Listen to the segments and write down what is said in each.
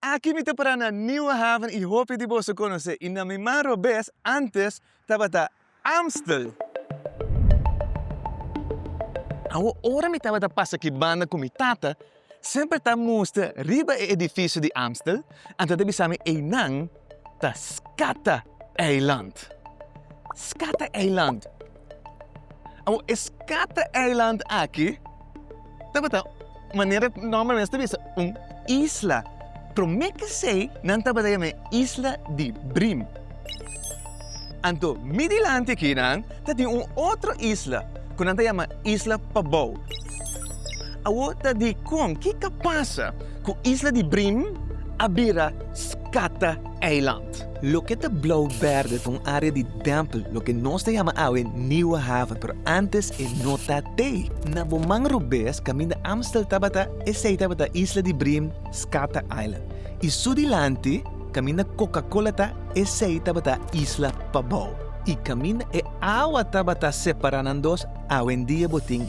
Aki mi ta para na Nieuwe Haven i hopi di boso konos'é i na mi man robes ántes tabata Amstel. Awo ora mi tabata pasa ki banda ku mi tata, semper ta mustra riba e edifisio di Amstel, a tabata bisa mi einan ta Scattereiland. Scattereiland. Awor e Scata Eiland aki tabata manera nomber mes ta bisa un isla. Prome kesei nan tabata yama e isla di Brim. Anto mi dilanti aki nan ta tin un otro isla ku nan ta yama isla Pabou. Awor ta dikon? Kiko a pasa ku isla di Brim a bira Scata? eiland. Loke ta Blauw Berde ta un área di dèmpel, loke nos ta yama awe Nieuwe Haven, pero ántes e no ta t'ei. Na bo man robes, kaminda Amstel tabata, esei tabata Isla di Brim, Skata Eiland. I su dilanti, kaminda Coca-Cola ta, esei tabata Isla Pabou. I kaminda e awa tabata separá nan dos, awendia bo tin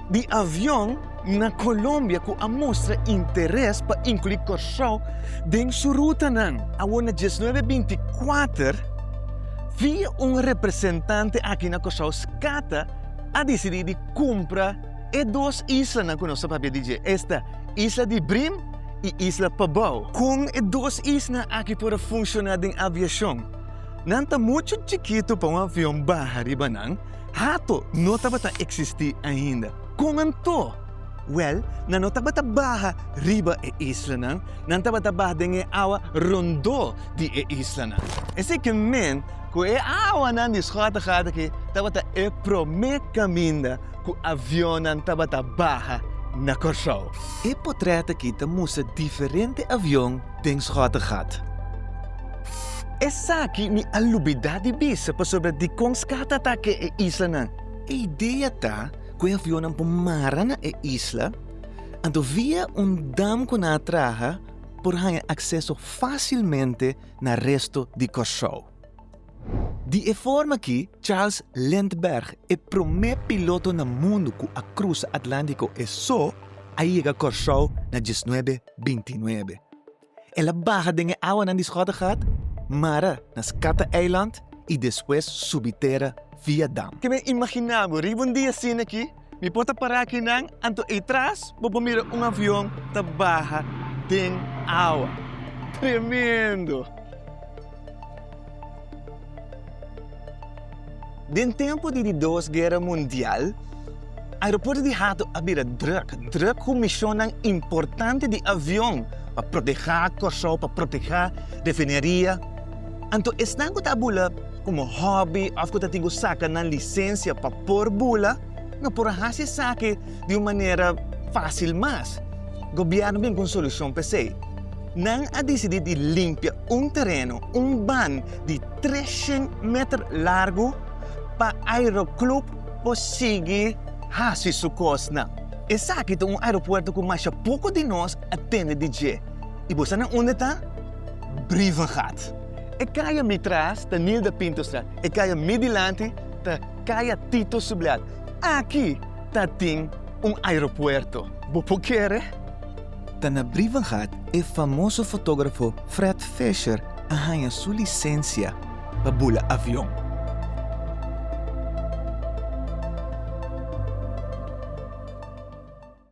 di avion na Colombia cu a mustra interes pa inclui Curaçao den su rutanan. Awor na diesnuebe binti kuater, via un representante aki na Curaçao Scata a dicidi di cumpra e dos islanan cu nos ta papia di dje, esta Isla di Brim y Isla Pabao. Con e dos islanan aki por a funciona den aviacion? Nan ta mucho chikito pa un avion baha riba nan. Hato no tabata eksistí ainda. Kon anto? Wèl, nan no tabata baha riba e islanan, nan tabata baha den e awa rondó di e islanan. Esei ke men, ku e awanan di Schottegaard aki, tabata e promé kaminda ku avionnan tabata baha na Kòrsou. E potrèt aki ta mustra diferente avion den Schottegaard. Esaki mi a lubidá di bisa pasobra dikon ská ta atake e islanan. E idea ta ku e avionnan por mara na e isla, anto via un dam ku nan a traha por haña akseso fásilmente na resto di Kòrsou. Di e forma akí, Charles Lindbergh, e promé piloto na mundu ku a krusa Atlántiko e so, a yega Kòrsou na diesnuebe bintinuebe. El a baha den e awanan di Schottegaard, mara na Scatteeiland i despues subi tera via dam. Te na imaginá bo riba un dia asina aki? Mi por ta pará aki nan, anto ei tras bo por mira un avion ta baha den awa. Tremendo! Den tempu di di Dos Guera Mundial, aeropuerto di Hato a bira druk, druk ku mishonnan importante di avion pa protehá Kòrsou, pa protehá refineria. Anto esnan ku ta bula komo hòbi òf ku ta tin ku saka nan lisensia pa por bula, no por a hasi esaki di un manera fásil mas. Gobièrnu bin ku un solushon pa esei. Nan a disidí di limpia un tereno, un ban di treshent meter largu pa Aeroclub por sigui hasi su kosnan. Esaki ta un aeropuerto ku masha poko di nos a tende di dje. I bo sa na unda ta? Brievengat. E kaya mi tras ta Nilda Pintostraat, e kaya mi dilanti ta kaya Tito Subleat. Aki ta tin un aeropuerto. Bo por kere? Ta na Brivengaard e famoso fotografo Fred Fisher a haña su licencia pa bula avion.